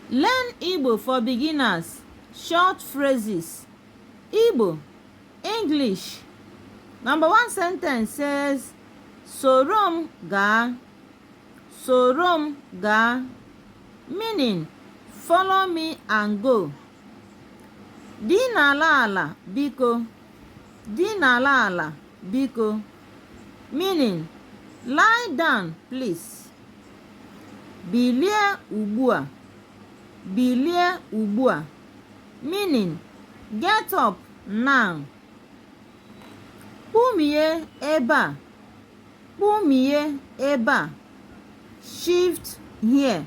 Learn Igbo for beginners, short phrases. Igbo, English. Number one sentence says, Sorom ga. Sorom ga. Meaning, follow me and go. Di n'ala ala biko. Di n'ala ala. Biko. Meaning, lie down please. Bilie ugbu a. Bilie ugbu a. Meaning, get up now. Kpumie ebe a. Kpumie ebe a. Shift here.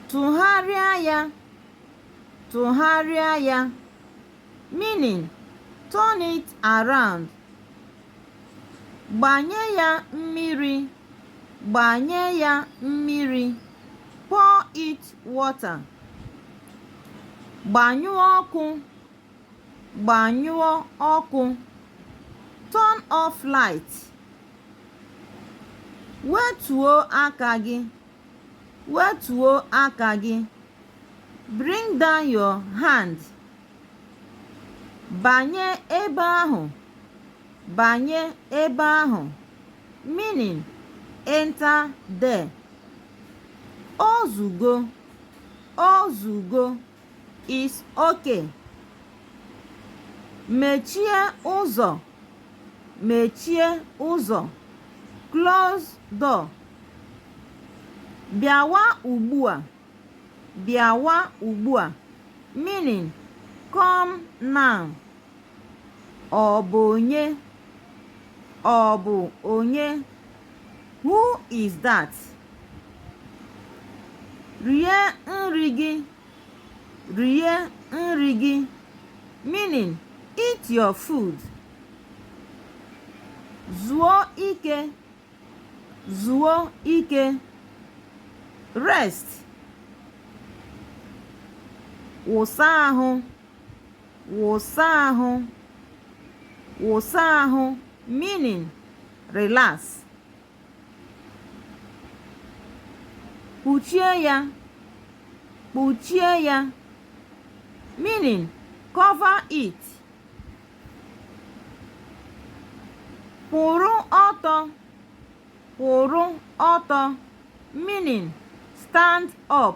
Tụgharịa ya. Tụgharịa ya. Meaning, Turn it around. Gbanye ya mmiri. Gbanye ya mmiri. Pour it water. Gbanyụọ ọkụ. Gbanyụọ ọkụ. Turn off light. Wetuo aka gị. wetuo aka gị bring down your hand banye ebe ahụ banye ebe ahụ meaning enter there o zugo o zugo is okay mechie ụzọ mechie ụzọ close door bịawa ugbu a bịawa ugbu a meaning come now Ọ bụ onye? Ọ bụ onye? Who is that? Rie nri gị. Rie nri gị. Meaning, eat your food. Zuo ike. Zuo ike. Rest. Wụsa ahụ. Wụsa ahụ. Wụsa ahụ meaning relax. Kpuchie ya. Kpuchie ya meaning cover it. Kwụrụ ọtọ. Kwụrụ ọtọ meaning stand up.